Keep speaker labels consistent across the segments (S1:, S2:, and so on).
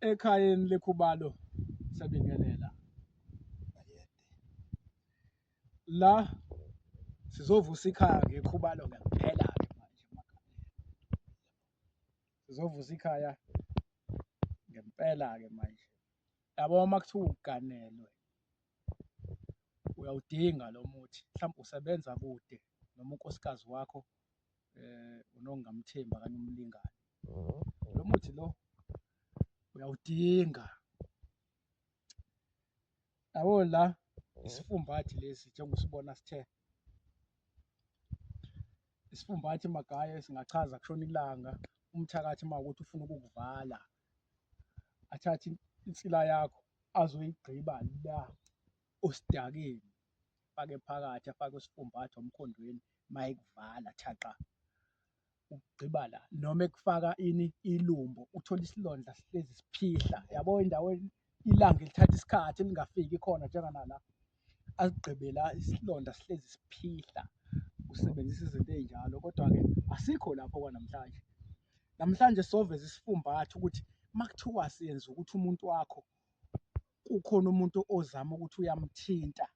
S1: ekhayeni lekhubalo sabingelela la sizovusa ikhaya ngekhubalo ngempela ke manje sizovusa ikhaya ngempela ke manje yabo uma kuthiwa uganelwe uyawudinga lo muthi mhlawumbe usebenza kude noma unkosikazi wakho um unongamthembi okanye umlingani lo muthi lo uyawudinga yabo la isifumbathi lesi njengoba usibona sithe isifumbathi magaye singachaza kushona ilanga umthakathi uma ukuthi ufuna ukukuvala athathe insila yakho azoyigqiba la osidakeni afake phakathi afake usifumbathi omkhondweni mayekuvala thaqa ukugqiba la noma ekufaka ini ilumbo uthola isilondla sihlezi siphihla yabo endaweni ilanga elithatha isikhathi elingafiki khona njenganala asigqibe la isilonda sihlezi siphihla usebenzisa izinto ezinjalo kodwa-ke asikho lapho kwanamhlanje namhlanje soveza isifumbatha ukuthi makuthiwa siyenza ukuthi umuntu wakho kukhona umuntu ozama ukuthi uyamthinta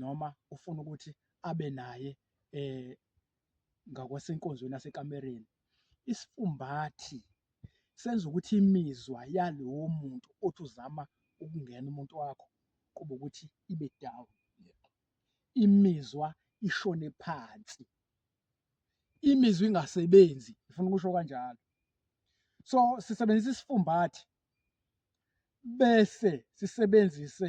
S1: noma ufuna ukuthi abe naye um ngakwasenkonzweni yasekamereni isifumbathi senza ukuthi imizwa yalowo muntu othi uzama ukungena umuntu wakho kuba ukuthi ibe down imizwa ishone phansi imizwa ingasebenzi ngifuna ukusho kanjalo so sisebenzisa isifumbathi bese sisebenzise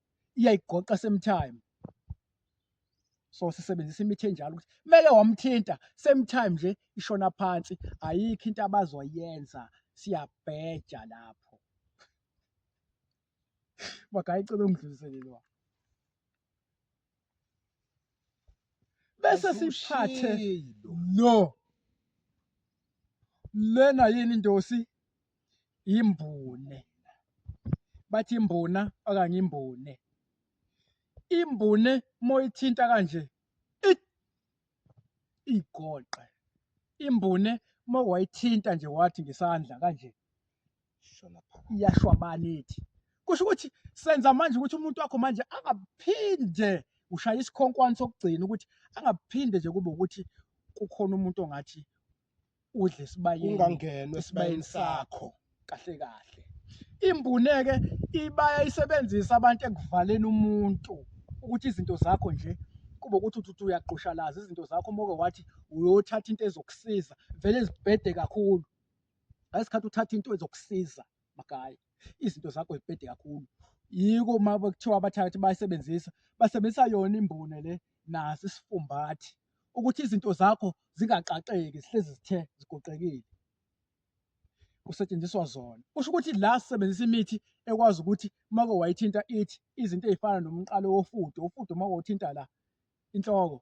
S1: iyayigoqa same time so sisebenzisa imithi enjalo ukuthi kumele wamthinta same time nje ishona phansi ayikho into abazoyenza siyabheja lapho makayicela ungidluliselelwa bese siphathe no lena yini indosi imbune bathi imbuna okanye imbune imbune moyithinta kanje igoqe imbune uma wayithinta nje wathi ngesandla kanje iyashwabana ithi kusho ukuthi senza manje ukuthi umuntu wakho manje angaphinde ushaya isikhonkwane sokugcina ukuthi angaphinde nje kube ukuthi kukhona umuntu ongathi udle esibayeni ungangenwe
S2: esibayeni sakho
S1: kahle kahle imbuneke ibaya isebenzisa abantu ekuvaleni umuntu ukuthi izinto zakho nje kube ukuthi uthi uyaqoshalaza izinto zakho moke wathi uyothatha into ezokusiza vele zibhede kakhulu ngesikhathi uthatha into ezokusiza magaya izinto zakho zibhede kakhulu yiko uma kuthiwa abathakathi bayisebenzisa basebenzisa yona imbune le naso isifumbathi ukuthi izinto zakho zingaqaqeki zihlezi zithe zigoqekile kusetshenziswa zona kusho ukuthi la sisebenzisa imithi ekwazi ukuthi uma wayithinta ithi izinto ezifana nomqalo wofudo ufudo uma wawuthinta la inhloko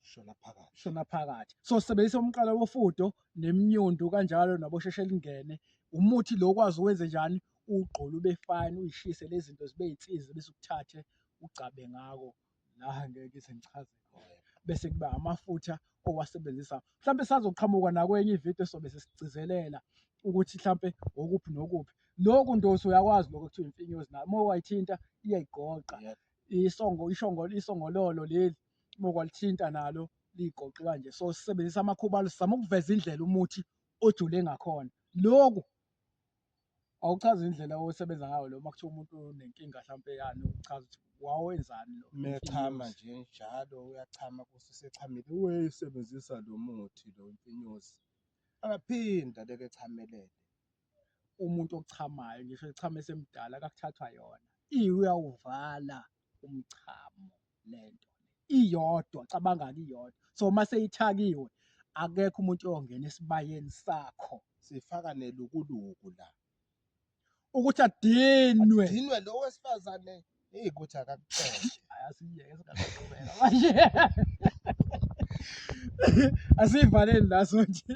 S1: shona phakathi shona phakathi so sebenzisa umqala wofudo nemnyundu kanjalo nabosheshe lingene umuthi lo kwazi uwenze njani ugqola ube fine uyishise lezinto zibe insizi bese ukuthathe ugcabe ngako la ngeke ngize ngichaze bese kuba amafutha owasebenzisa mhlawumbe sazoqhamuka nakwenye ividiyo sobe sesigcizelela ukuthi mhlawumbe okuphi nokuphi lokhu ndosi uyakwazi lokho kuthiwa imfinyozi nayo uma wayithinta iyayigoqa isongo ishongo isongololo leli bokwalithinta nalo ligoqe kanje so sisebenzisa amakhuba sizama ukuveza indlela umuthi ojule ngakhona loku awuchazi indlela osebenza ngayo lo makuthiwa umuntu unenkinga mhlawumpe yani uchaza ukuthi wawenzani lo mechama nje
S2: njalo uyachama kuthi sechamile uyisebenzisa lo muthi lo mfinyozi akaphinda leke chamelele
S1: umuntu ochamayo ngisho echama esemdala kakuthathwa yona iyawuvala umchamo lento iyodwa cabanga iyodwa so uma seyithakiwe akekho umuntu oyongena esibayeni sakho sifaka
S2: nelukuluku la ukuthi adinwe
S1: adinwe lo
S2: wesifazane hey ukuthi akakuxoshe asiyeke
S1: singaqhubeka manje asivaleni la sonje